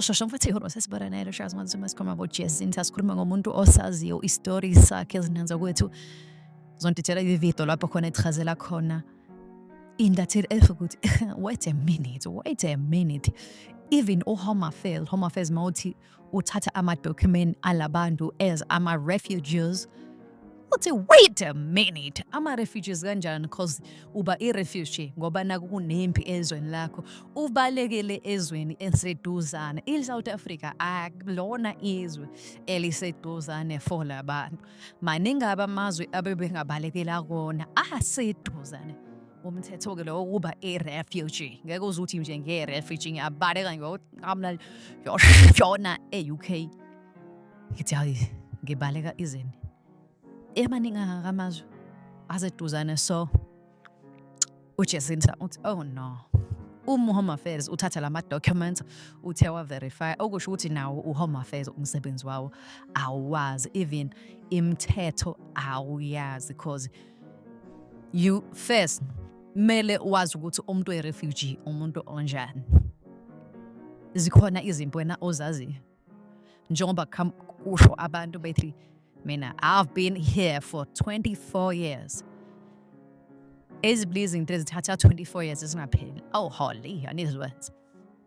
shosho futhi ihoro sesibona naye loshazi manje uma sikhuluma about jazz into asikhuluma ngomuntu osaziyo i-story sakhe ezinanza kwethu zontithela ividiyo lapho khona echazela khona intatheli esho ukuthi wait a minute wait a minute even uhome affairs home affairs mawuthi uthatha amadocument alabantu as ama-refugees uthi wait a minute ama-refugees kanjani because uba i-refugee ngoba naku kunempi ezweni lakho ubalekele ezweni eseduzane i-south africa akulona izwe eliseduzane for labantu maningi aba amazwi abebengabalekela kona aseduzane umthetho-ke lowo wokuba i-refugee ngeke uze uthi nje nge-refugee ngiyabaleka ngiyoqamla yoshona e-u k ngithi hayi ngibaleka izini emaningi angakamazwi aseduzane so uJacinta uthi oh no uma uhome affairs uthatha lama documents uthe wa verify okusho ukuthi nawo uhome affairs umsebenzi wawo awazi even imthetho awuyazi because you first mele wazi ukuthi umuntu we refugee umuntu onjani zikhona izinto wena ozaziyo njengoba kusho abantu bethi mina i've been here for 24 years ezibili izinto ezithatha 24 years ezingapheli oh holy anizwenza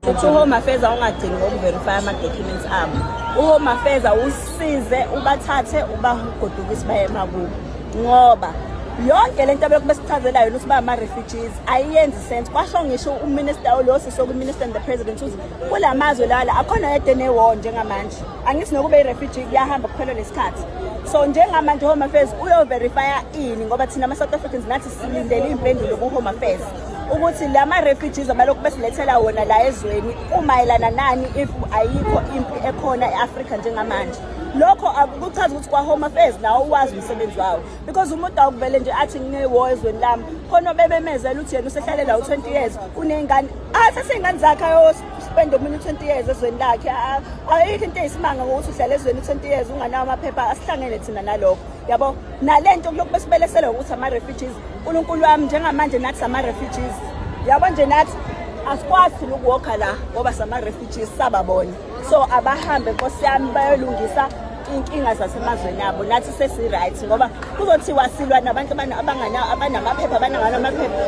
futhi uhome affairs awungagcini ngokuverifya ama-documents abo uhome affairs usize ubathathe ubagodukise baye emakubo ngoba yonke le nto abekho besichazela yona ukuthi ba ama-refugees ayiyenzi sense kwasho ngisho uminister olosisi okuminister and the president uze kula mazwe lala akhona yedwa enewar njengamanje angithi nokuba i-refugee kuyahamba kuphela lesikhathi so njengamanje home affairs uyoverifya ini ngoba thina ama-south africans nathi silindele iy'mpendulo ku-home affairs ukuthi la ma-refugees abalokhu besilethela wona la ezweni umayelana nani if ayikho impi ekhona e-afrika njengamanje lokho akuchazi ukuthi kwa-home affairs nawo uwazi umsebenzi wawo because umuntu awukuvele nje athi ngine-war ezweni lami khona obebemezela ukuthi yena usehlalela u-20 years uney'ngane athathe ingane zakhe ayospenda omunye u-twenty years ezweni lakhe ayikho into eyisimanga ngokuthi uhlala ezweni u-twenty years unganawo amaphepha asihlangene thina nalokho yabo nale nto kulokhu besibelesele ngokuthi ama-refugees unkulunkulu wami njengamanje nathi sama-refugees yabo nje nathi asikwazi thina ukuwokha la ngoba sama-refugees sababona so abahambe nkosi yami bayolungisa inkinga zasemazweni abo nathi sesi-right ngoba kuzothiwa silwa nabantu abanamaphepha abananganamaphepha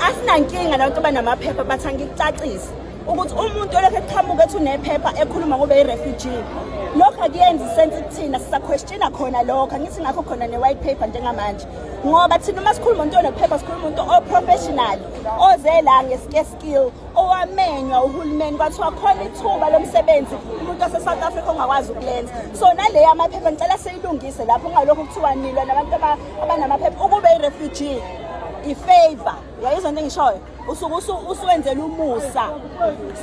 asinankinga nabantu abanamaphepha bathi angikucacise ukuthi umuntu olokhu eqhamuka ethi unephepha ekhuluma ngobe i-refugee lokho akuyenzi isense kuthina sisaquestiona khona lokho angithi ngakho khona ne-white paper njengamanje ngoba thina uma sikhuluma umuntu onephepha sikhuluma umuntu oprofessional oze la ngesikesi skill owamenywa uhulumeni kwathiwa khona ithuba lomsebenzi umuntu wase-south africa ongakwazi ukulenza so naleyo amaphepha ngicela siyilungise lapho ungalokhu kuthiwa nilwa nabantu abanamaphepha ukube i-refugee ifavor yayizwa into engishoyo usuke usuwenzela umusa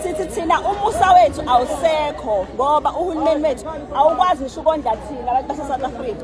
sithi thina umusa wethu awusekho ngoba uhulumeni wethu awukwazi ngisho ukondla thina abantu base-south africa